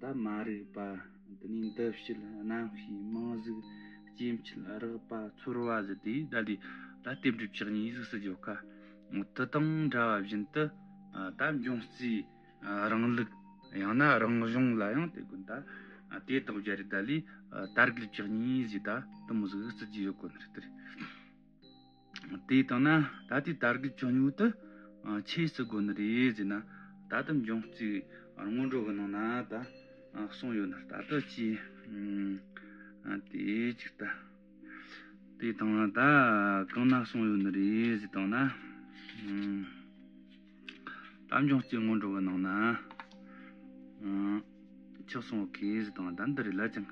ད་མ་རིག་པ་འདི་ནས་འདི་བྱེད་གནམ་གཤིས་དམངས་གཟུགས་སྐྱེ་མཆེད་རགས་པ་ཚོར་བ་བཞི་དེ་ལྟ་ལས་ད་ལྟའི་འགྲུབ་བྱེད་གཉིས་གཟུགས་སུ་འཇོག་དཀའ། དེ་དང་འདྲ་བ་བཞིན་དུ་ད་འབྱུང་རྩའི་རིང་ལུགས་ཡང་ན་རང་བྱུང་ལ་ཡང་དེ་ཀུན་ད། དེ་དང་རྒྱ་རིགས་ད་ལས་ད་རིགས་ལུགས་ཀྱི་གཉིས་གཟུགས་ད་དུམ་གཟུགས་སུ་འཇོག་དགོས་ན་ལྟར། དེ་ལྟ་ན་ད་ལྟའི་དར་གྱི་བྱུང་ཡུལ་དུ་ཆོས་སུ་དགོས་ནི་རེད་ཟེར་ན་ད་ལྟ་འབྱུང་གཅིག་སྔོན་འགྲོ་གི་ནང་ན་ད་གསུངས་ཡོད་ན་ད་ལྟ་ཅི་དེ་ཅིག་ལྟ་དེ་དང་ད་གང་ན་གསུངས་ཡོད་ནི་རེད་ཟེར་དང་ན་དམ་བྱུང་སྐྱེ་དངོས་འགྲོ་བའི་ནང་ན། ཆགས་སོང་བའི་ཁེ་གཟི་དང་ལྡན་འདི་རིགས་ལ་ཅང།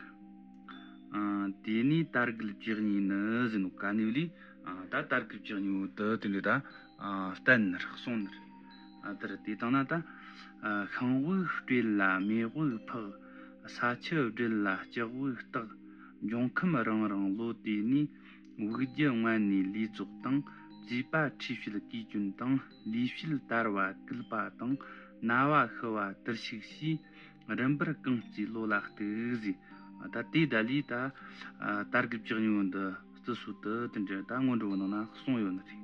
དེ་ནས་དར་གུད་བཅུ་གཉིས་ནི་ཟིན་ནོ་ག་ནུས་ལས། ད་དར་གུད་བཅུ་གཉིས་འོད་དུ་དེ་འདྲས་ད། བསྟན་ནི་རག་སོང་ནི། དེར་དེ་དང་ན་ད། ཤིང་དབུགས་སྤྲེལ་ལ་མེ་དབུགས་འཕགས། ས་ཆུ་སྦྲེལ་ལ་ལྕགས་དབུགས་བརྟག། འབྱུང་ཁམས་རང་རང་ལོ་དེ་ནས། དབུས་རྒྱུད་སྔོན་ནས་ལུས་རྫོགས་དང་བཅས་པ་འཁྲིས་བྱེད་དགུའི་སྐྱོན་དང་ལུས་བྱེད་དར་བ་སྐུལ་པ་དང་ན་བ་ཤི་བ་དིར་ཤིག་ཞེས་རིམ་པར་རྐང་གཅིག་བློ་ལ་གཏུགས་ཟེར་ད་ལྟའི་ད་ལོའི་ད་ལྟར་གྱི་ལྕགས་སྨྱུག་འདི་བརྩི་སྲོལ་དུ་དེ་འདྲའི་ད་སྔོན་འགྲོ་བ་ནང་ན་གསུངས་ཡོད་ནི་རེད།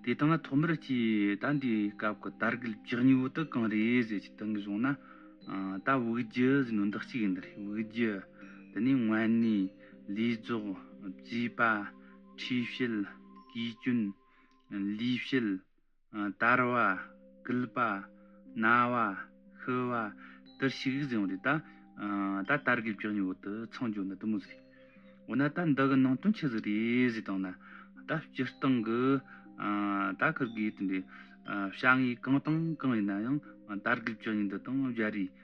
དེ་དག་ན་ཐོག་མར་གྱི་ད་འདིའི་སྐབས་ཀྱི་དར་གྱི་ལྕགས་སྨྱུག་དེ་གང་རེད་ཟེར་གྱི་དོན་གྱི་བཟུང་ན་ད་དབུས་རྒྱུད་ཟེར་ནི་འདི་གཅིག་ཡིན་ནི་རེད་དབུས་རྒྱུད་དེ་ནི་སྔོན་ནས། ལས་རྫོགས་རྩིས་པ་ཁྲིས་བཤད་དགེ་སྐྱོན་ལུས་བཤད་དར་བ་སྐུལ་པ་ན་བ་ཤི་བ་དར་ཞིག་བཟང་བོ་རེད་ད་ད་དར་གི་བཀྱག་ཉོ་བོ་དུ་ཚང་རྒྱོ་ན་དུ་མོ་ཟིག་འོ་ན་ད་འདི་གི་ནང་དོན་ཆི་ཟིག་རེད་ཟིག་དང་ན་ད་སྤྱི་སྟང་གི་ད་ཁུར་གི་ཡོད་དམ་པའི་བྱ་ངའི་གང་དང་གང་ཡིན་ན་ཡང་དར་གི་བཀྱག་ཉོ་འདི་དང་བཞའ་རིས།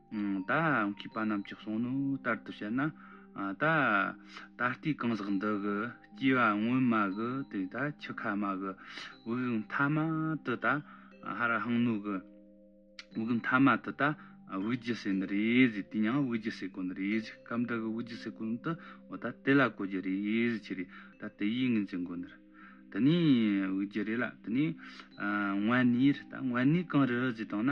བདག་གི་པ་རྣམས་ཀྱི་གསུང་ནི་ལྟར་དུ་བྱས་ན། ད་ལྟའི་གང་ཟག་འདི་གི་སྐྱེ་བ་སྔོན་མ་གི་དེ་ད་ཁྱི་ཁ་མ་གི་དབུགས་མཐའ་མ་དུ་ད་ཧ་ར་ཧང་ནུ་གི་དབུགས་མཐའ་མ་དུ་ད་དབུགས་རྒྱུ་སེ་ནི་རེ་ཟིག་དེ་ཡང་དབུགས་རྒྱུ་སེ་གོ་ནི་རེ་ཟིག་སྐབས་འདི་གི་དབུགས་རྒྱུ་སེ་གོ་ནི་དུ་བ་ད་དེ་ལ་གོ་རྒྱུ་རེ་ཟིག་ཆི་རེ་ད་དེ་ཡིས་ངེས་ཅན་གོ་ནི་རེ་དེ་ནས་དབུགས་རྒྱུ་རེ་ལ་དེ་ནས་དབེན་གནས་རེ་ད་དབེན་གནས་གང་རི་ཟིག་དང་ན།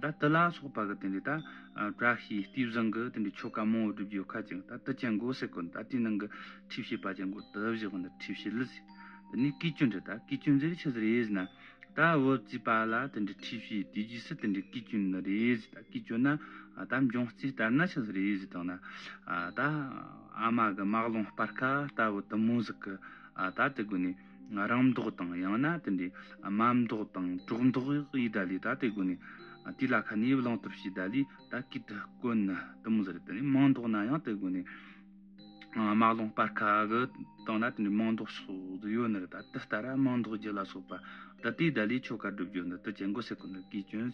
ད་ཏི་ལ་སོགས་པ་གི་དེ་འདྲའི་ད་བཀྲ་ཤིས་ལྟོས་བཟང་གི་དེ་འདྲའི་ཆོ་ག་མང་བོ་བསྒྲུབ་རྒྱུ་ཁ་ཅིག་ད་ཏི་ཅན་གོ་སེ་གོ་ད་ཏིའི་ནང་གི་ཁྲིད་བྱེད་པ་ཅན་གོ་ཏི་བཞི་གོ་ཁྲིད་བྱེད་ལི་ཟེར་དེ་ནས་ཀི་ཅོན་དྲི་ད་ཀི་ཅོན་ཟེར་ཆི་ཟེར་རེ་ཟེར་ན་ད་བུ་བཙས་པ་ལ་དེ་འདྲའི་ཁྲིད་བྱེད་དེ་རྗེས་སུ་དེ་འདྲའི་ཀི་ཅོན་ནི་རེ་ཟེར་ད་ཀི་ཅོན་ན་ད་འབྱུང་རྩིས་ལྟར་ན་ཆི་ཟེར་རེ་ཟེར་དང་ན་ད་ཨ་མ་གི་མག་ལོང་སྤར་ཁ་ད་བུ་ཏི་མོ་ཟིག་གི་ད་དེ་གོ་ནས་ང་རང་མདོག་དང་ཡང་ན་དེ་འདྲའི་དམའ་མདོག་དང་གྲོགས་མདོག་ཡི་ད་ལི་ད་དེ་གོ་ནི་དེ་ལ་ཁ་ནི་བླང་ཐབས་ཤིག་ད་ལི་ད་གིས་དེ་གོ་ནི་དུ་མོ་ཟེར་རེད་དེ་ནི་མང་མདོག་ན་ཡང་དེ་གོ་ནི་དམའ་བླང་པར་ཁ་གི་དང་ན་དེ་འདྲའི་མང་མདོག་སོགས་དུ་ཡོད་ནི་རེད་ད་དེ་ལྟར་དམའ་མདོག་རྒྱུ་ལ་སོགས་པ་ད་དེའི་ད་ལི་ཆོ་ག་བསྒྲུབ་རྒྱུ་ནི་དུ་ཅན་གོ་སེ་གོ་ནི་གིས་བྱོན།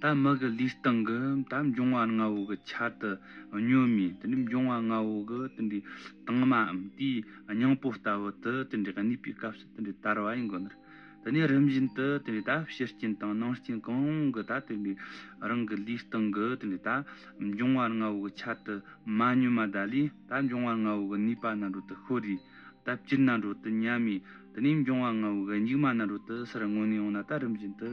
ད་དམག་གི་ལུས་སྟེང་གི་ད་འབྱུང་བ་ལྔ་བོ་གི་ཆ་དུ་བསྙོན་མི་དེ་འདྲའི་འབྱུང་བ་ལྔ་བོ་གི་དེ་འདྲའི་དྭངས་མའམ་དེའི་སྙིང་པོ་ལྟ་བུ་དེ་དེ་འདྲའི་གནས་པའི་སྐབས་སུ་དེ་འདྲའི་དར་བ་ཡིན་དགོས་ནི། དེ་ནས་རིམ་བཞིན་དུ་དེ་འདྲའི་ད་ཕྱི་རྐྱེན་དང་ནང་རྐྱེན་གང་རུང་གི་ད་དེ་འདྲའི་རང་གི་ལུས་སྟེང་གི་དེ་འདྲའི་ད་འབྱུང་བ་ལྔ་བོ་གི་ཆ་དུ་མ་བསྙོན་མ་དག་ལས་ད་འབྱུང་བ་ལྔ་བོ་གི་ནུས་པ་རྣལ་འགྲོ་དུ་ཤོར་རིས་ད་སྤྱིར་རྣལ་འགྲོ་དུ་ཉམས་མེད་དེ་ནས་འབྱུང་བ་ལྔ་བོ་གི་སྙིགས་མ་རྣལ་འགྲོ་དུ་སར་མངོན་ནས་འོངས་ན་ད་རིམ་བཞིན་དུ།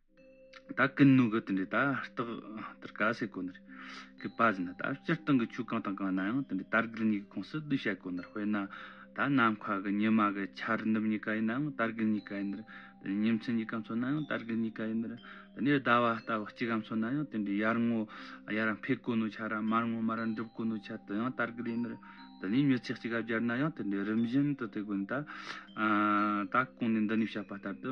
ད་ཀུན་ནུའི་གུ་དེ་འདྲས་ད་རྟགས་དར་ཀ་སེ་གོ་ནར་གུ་པ་བཞིན་ན་ད་སྤྱིར་བཏང་གི་ཆོས་གང་དང་གང་ན་ཡང་དེ་འདྲས་དར་གུ་གཉིས་ཀའི་ཁོངས་སུ་བསྡུ་བྱ་གོ་ནར་དཔེར་ན་ད་ནམ་མཁའ་གི་ཉི་མ་གི་ཆ་རི་འདུམ་གཉིས་ཀ་ཡིན་ནའང་དར་གུ་གཉིས་ཀ་ཡིན་ནར་དེ་ནས་ཉིན་མཚན་གཉིས་ཀ་མཚོན་ན་ཡང་དར་གུ་གཉིས་ཀ་ཡིན་ནར་དེ་ནས་ཟླ་བ་རྟ་བ་གཅིག་ག་མཚོན་ན་ཡང་དེ་འདྲས་ཡར་ངོ་ཡར་ར་འཕེལ་གོ་ནོའི་ཆ་ར་མར་ངོ་མར་ར་འགྲུབ་གོ་ནོའི་ཆ་དེ་ཡང་དར་གུ་ཡིན་ནར་དེ་ནས་མྱུར་ཚད་གཅིག་ག་སྦྱར་ན་ཡང་དེ་འདྲས་རིམ་བཞིན་དུ་དེ་གོ་ནས་ད་ད་གོང་ནས་འདི་ནས་བཤད་པ་ལྟར་དུ་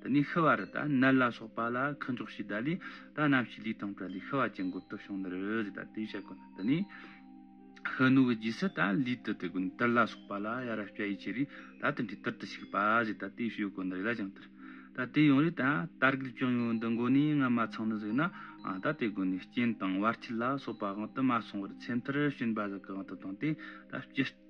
འདི་ནས་ཤི་བ་རི་དང་ནལ་ལ་སོགས་པ་ལ་ཁུ་འཇོག་བྱས་བསྡད་ལས་ད་ནམ་ཞིག་ལུས་དང་བྲལ་ནས་ཤི་བ་ཅན་གོ་ཐོས་བྱུང་འདིར་འོས་ཟེར་ད་དེ་བཤད་དགོས་ན་འདི་ནས། ཤི་ནུ་བའི་རྗེས་སུ་ད་ལུས་དུ་དེ་ཀུན་ཏིར་ལ་སོགས་པ་ལ་ཡ་རབས་སྐྱ་ཡི་ཆེ་རིས་ད་དེ་འདྲའི་ཏིར་དུ་ཞིག་པ་ཟེར་ད་དེ་ཤོད་དགོས་འདིར་ཡ་ཅང་ཏིར། ད་དེ་ཡང་རེད་ད་དར་རྒུད་ཅུང་ཡོད་འདི་མགོ་ནས་ང་མ་ཚང་ནི་གཟིགས་ན་ཨང་ད་དེ་དགོས་ནས་སྐྱེན་དང་བར་ཆད་ལ་སོགས་པ་དབང་དུ་མ་སོང་བར་ཚེ་མཐར་བྱིན་པ་ཟིལ་གྱི་དབང་དུ་བཏང་སྟེ་ད་སྤྱིར།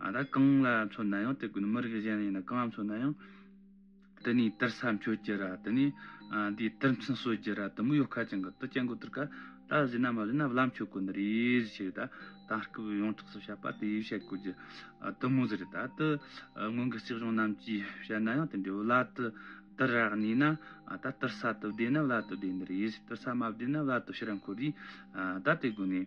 ད་ལྟ་གང་ལ་མཚོན་ན་ཡང་དེ་མི་རིགས་གཞན་ཡིན་ན་གང་ལ་མཚོན་ན་ཡང། དེ་ནས་དེར་ས་མཆོད་རྒྱུ་ར་དེ་ནས་དེའི་དེར་མཚན་གསོལ་རྒྱུ་ར་དེ་མོ་ཡོ་ཁ་ཅན་གི་དུ་སྐྱེ་འགོ་དེར་ག་ད་བཟོས་ན་མ་བཟོས་ན་བླ་མཆོད་དགོས་འདི་རེད་ཞེས་ད་དམ་སྐབས་ཡོངས་གྲགས་སུ་བཤད་པ་དེ་ཡིས་བཤད་དགོས་རྒྱུ་དུ་མོ་ཟེར་ད་དུ་སྔོན་གྱི་སྲིད་གཞུང་རྣམས་ཀྱིས་བཤད་ན་ཡང་དེ་འདྲའི་བླ་དུ་དུར་ར་གཉིས་ན་ད་དུར་ས་དུ་བདེ་ན་བླ་དུ་བདེ་འདི་རེད་དུར་ས་མ་བདེ་ན་བླ་དུ་ཕྱི་ར་འཁོར་རེད་ད་དེ་དགོས་ནས།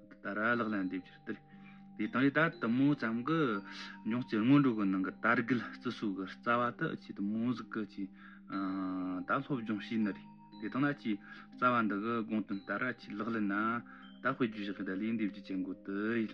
ད་ར་ལགས་ལན་འདེབས་ཕྱིར་དེར་དེ་དང་ཡི་ད་དུ་མོ་ཙམ་གི་མྱོང་བྱེད་སྔོན་འགྲོ་གི་ནང་གི་དར་རྒུད་བརྩི་སྲུག་གི་རྩ་བ་དུ་ཆེད་དུ་མོ་གཟུགས་ཀྱི་ཆེད་ད་སློབ་སྦྱོང་བྱས་ནི་རེད་དེ་དང་ན་ཆེས་རྩ་བ་འདི་གི་དགོངས་དོན་ད་ར་ཆེས་ལག་ལེན་ན་ད་དཔེ་རྒྱུ་བཞག་གི་ད་ལན་འདེབས་རྒྱུ་བྱེད་འགོ་དུ་ཡིན།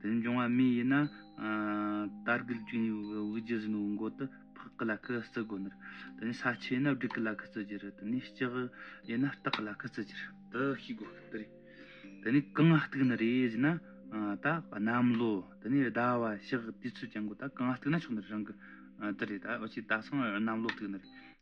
དེ་འབྱུང་བ་མི་ཡིན་ན། རྟ་རྒུད་བཅིངས་ཡོད་པའི་དབུགས་རྒྱུ་ཟིན་པའི་མགོ་དུ་ཕག་གི་ལ་ཁུ་བརྩི་དགོས་ནི། དེ་ནས་ས་ཆུ་ཡིན་ན་སྦྲུལ་གྱི་ལ་ཁུ་བརྩི་རྒྱུ་རེད་དེ་ནས་ལྕགས་ཡིན་ན་སྟག་གི་ལ་ཁུ་བརྩི་རྒྱུ་རེད་དུ་ཤེས་དགོས་ཀྱི་རེད། དེ་ནས་རྐང་གཏུགས་ནི་རེད་ཅེ་ན། ད་གནམ་ལོ་དེ་ནས་ཟླ་བ་ཕྱག་དུས་ཚོད་ཀྱང་དགོས་ད་རྐང་གཏུགས་ན་ཆོག་ནི་རང་གི་དེ་རེད་ད་འོ་ཅེ་ད་སང་གནམ་ལོ་གཏུགས་ནི་རེད།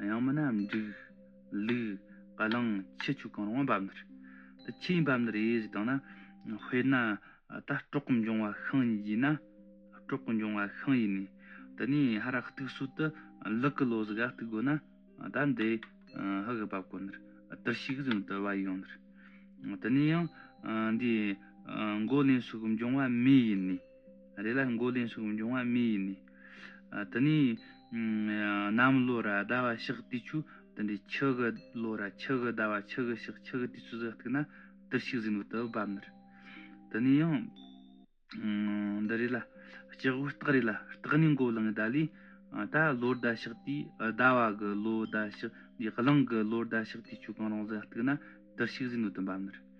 ཡང་མིན་ན་འབྲུག། ལུག། བ་ལང། ཁྱི་ཆུ་གང་རུང་བ་འབབ་འདིར། དེ་ཁྱི་ཡིན་བབ་འདིར་དབྱེ་གཞི་བཏང་ན། དཔེར་ན། ད་སྤྲོག་གི་འབྱུང་བ་ཤིང་ཡིན་གྱིས་ན། སྤྲོག་གི་འབྱུང་བ་ཤིང་ཡིན་ནས། དེ་ནས་ཧ་ར་གཏུགས་སྲོལ་དུ། ལུག་གི་ལོ་ཟིག་ག་གཏུགས་དགོས་ན། ད་འདི། ཧི་གི་བབ་དཀོན་འདིར། དིར་ཤིག་གཟིགས་དུ་བ་ཡོང་འདིར། དེ་ནས་ཡང། འདིའི། མགོ་ལེན་སོགས་འབྱུང་བ་མེ་ཡིན་ནས། རེ་ལ་མགོ་ལེན་ཞིག་འབྱུང་བ་མེ་ཡིན་ནི། དེ་ནས་གནམ་ལོ་ར་ཟླ་བ་ཞག་དུས་ཆུ་དེ་འདྲའི་ཁྱི་གི་ལོ་ར་ཁྱི་གི་ཟླ་བ་ཁྱི་གི་ཞག་ཁྱི་གི་དུས་ཆུ་ཟིག་བཏུག་ན་དུར་ཞིག་ཟིན་པོ་དུ་བབ་ནི། དེ་ནས་ཡང་འདི་རེ་ལ་སྐྱག་དབུགས་སྟག་རེ་ལ་སྟག་ནི་མགོ་ལང་གི་ཟླ་ལས་ད་ལོ་ཟླ་ཞག་དུས་ཟླ་བ་གི་ལོ་ཟླ་ཞག་འདིའི་གླིང་གི་ལོ་ཟླ་ཞག་དུས་ཆུ་གང་རུང་ཟིག་བཏུག་ན་དུར་ཞིག་ཟིན་པོ་དུ་བབ་ནི།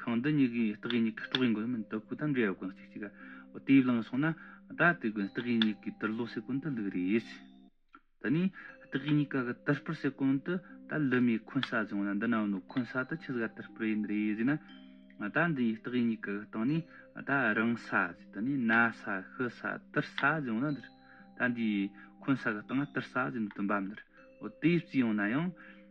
ཤིང་འདི་གཉིས་ཀའི་སྟག་གཡས་གཉིས་ཀའི་སྤྲོག་ཡིན་དགོས་མིན་དོ་ཁུ་དང་འབྲེལ་བ་དགོན་གཅིག་ཅིག་ག་དེའི་གླིང་སོང་ན་ད་དེ་དགོན་སྟག་གཡས་གཉིས་ཀའི་དར་ལོ་སེ་གོན་དུ་ལུག་རེད། ད་ནི་སྟག་གཡས་གཉིས་ཀ་གི་དར་སྤུར་སེ་གོན་དུ་ད་ལུ་མའི་འཁོན་ས་བཟུང་ན་འདི་ན་ནོ་འཁོན་ས་དུ་ཁྱི་ཟ་དར་སྤུར་ཡིན་རེད་ཟེར་ན། ད་འདི་ཡི་སྟག་གཡས་གཉིས་ཀ་གི་སྟེང་ནས་ད་རང་ས་ཟེར་དུ་ནི་ན་ས་ཤི་ས་དར་ས་བཟུང་ན་འདིར་ད་འདི་ཡི་འཁོན་ས་གི་སྟེང་ན་དར་ས་ཟེར་འདུག་དུ་འབབ་འདིར་དེ་ཡི་རྩིས་ཡོང་ན་ཡང།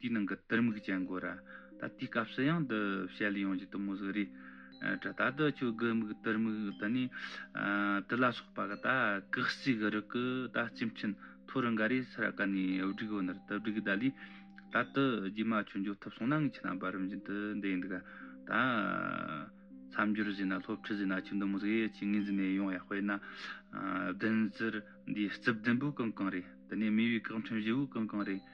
དེའི་ནང་གི་དིར་མིག་ཅན་གོ་ར། ད་དེའི་སྐབས་སུ་ཡང་འདི་བཤད་ལུས་ཡོང་གི་འདུག་མོ་གཟུགས་རིས། དྲི་ད་དུ་ཆུ་སྒུལ་མིག་དིར་མིག་དེ་ནི། དྲི་ལ་སོགས་པ་གི་ད་གེགས་རྩིས་གི་རིགས་ཀྱི་ད་སྤྱི་མཆིན་ཐོ་རུ་འགའ་རེ་ས་ར་ཀ་ནས་བསྒྲིགས་འོ་ནར་དེ་བསྒྲིགས་ད་ལུས། ད་དུ་རྗེས་མ་ཆུ་འཇོག་ཐུབ་སོང་ན་ངས་ཁྱེད་རང་བར་རིམ་བཞིན་དུ་འདི་ཡིན་འདུག་ག། ད། མཚམས་སྦྱོར་བཞིན་ན་སློབ་ཁྲིད་བཞིན་ན་ཆུ་འདི་མོ་གཟུགས་ཡས་ཀྱི་ངོས་འཛིན་ནས་ཡོང་ཡ་དཔེར་ན། བདུན་རྩིར་འདིའི་རྩིབས་ལྡན་པོའི་རྐང་རྐང་རེད་དེ་ནས་མེ་བའི་རྐང་ཕྲན་བཞི་བོའི་རྐང་རྐང་རེད།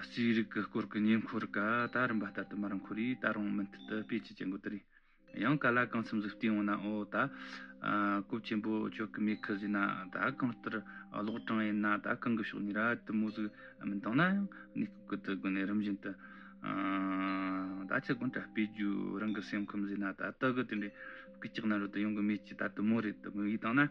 རྩིས་རིག་གི་སྐོར་གྱི་ཉེ་འཁོར་ཀ་ད་རིམ་པ་ལྟར་དུ་མར་འཁོར་ཡིས་ད་རུང་མུ་མཐུད་དུ་སྤེལ་གྱི་ཀྱི་འགོ་དེར་ཡང་ག་ལ་གང་འཚམས་གཟིགས་བསྟུན་འོང་ན་འོ་ད་སྐུ་ཆེན་པོ་ཁྱོད་ཀྱི་མི་ཁུ་བཟོས་ན་ད་གང་ལྟར་ལོག་གྲངས་ཡིན་ན་ད་གང་གི་ཕྱོགས་ནས་ར་དུ་མོ་ཟིག་མི་མདང་ན་ཡང་གནས་སྐུ་གུ་དུ་དགོན་ནས་རིམ་བཞིན་དུ་ད་ཁྱི་དགོན་གྲ་སྤེལ་རྒྱུ་རང་གི་སེམས་ཁུམས་བཟོས་ན་ད་ད་གུ་དེ་འདྲའི་སྐུ་ཅག་ན་རོ་དུ་ཡོང་གི་མེད་ཀྱི་ད་དུ་མོ་རེ་དུ་མོ་ཡིས་བཏང་ན།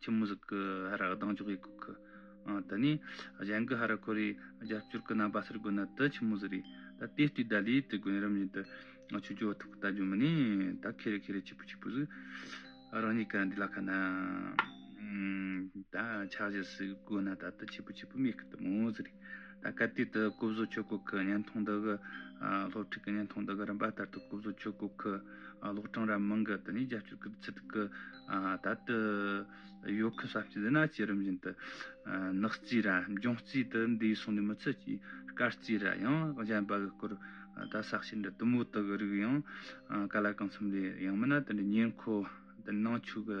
ཁྱི་མོ་ཟིག་གི་ཧ་ར་གདངས་ཅོག་གཡས་ཁུག་གི། དེ་ནས་གཞན་གི་ཧ་ར་ཁོ་རེ་རྒྱབ་སྐྱོར་གི་རྣམ་པ་ཟེར་དགོས་ན་དེ་ཁྱི་མོ་ཟིག་རེད། ད་དེ་ལྟོས་ད་ལས་དེ་དགོན་རིམ་བཞིན་དུ་ཆོས་རྒྱུད་འོག་ཐུག་གི་ལྟ་རྒྱུ་མི་ནི་ད་ཁེ་རེ་ཁེ་རེ་ཁྱི་པོ་ཁྱི་པོ་ཟིག། རང་ཉིད་ག་འདི་ལ་ཁ་ན་ད་ཆགས་བཞེས་ཟིག་དགོས་ན་ད་དེ་ཁྱི་པོ་ཁྱི་པོ་མེད་གི་དུ་མོ་ཟིག་རེད། སྐབས་དུས་དེར་སྐུ་བཟོ་ཆོས་སྐོར་ཁུལ་བརྙན་ཐུང་དག་གི་སློབ་ཕྲུག་གི་བརྙན་ཐུང་དག་གི་རིམ་པ་ལྟར་དུ་སྐུ་བཟོ་ཆོས་སྐོར་ཁུལ་གློག་གྲངས་ར་མང་གི་དེ་ནས་རྒྱབ་སྐྱོར་གྱི་ཚུལ་དུ་ད་ལྟ་ཡོད་ཁུལ་གསར་སྐྱེས་རི་ནག་ཅེས་རིམ་བཞིན་དུ་ནག་རྩིས་ར་ལྗོངས་རྩིས་དུ་འདས་སོང་ནས་མི་ཚད་ཀྱིས་སྐར་རྩིས་ར་ཡང་གཞན་པ་གི་སྐོར་ད་ཟག་བྱེད་འདྲ་དུ་མོ་དག་གི་རིགས་ཡང་ག་ལ་གང་འཚམ་ལས་ཡང་མིན་ན་དེ་འདྲའི་ཉེར་མཁོ་དེ་ནང་ཆོས་ཀྱི་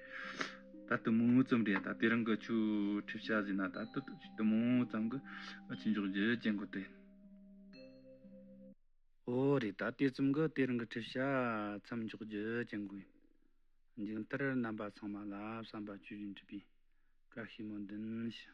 ད་དུ་མུ་མུ་ཙམ་རེད་ད་དེ་རང་གི་ཆུ་ཁྲིད་བྱ་ཟིན་ན་ད་དུ་དུ་མུ་མུ་ཙམ་གྱི་ཕྱི་འཇོག་རྒྱུ་ཅན་གོ་དེ། ཨོ་རེད་ད་དེ་ཙམ་གྱི་དེ་རང་གི་ཁྲིད་བྱ་མཚམས་འཇོག་རྒྱུ་ཅན་གོ། མཇུག་མཐར་རྣམ་པ་ཚང་མ་ལ་བསམ་པ་བཅུ་བཞིན་བྲིས་པའི་བཀའ་ཞིབ་མོ་འདོན་ཞུ།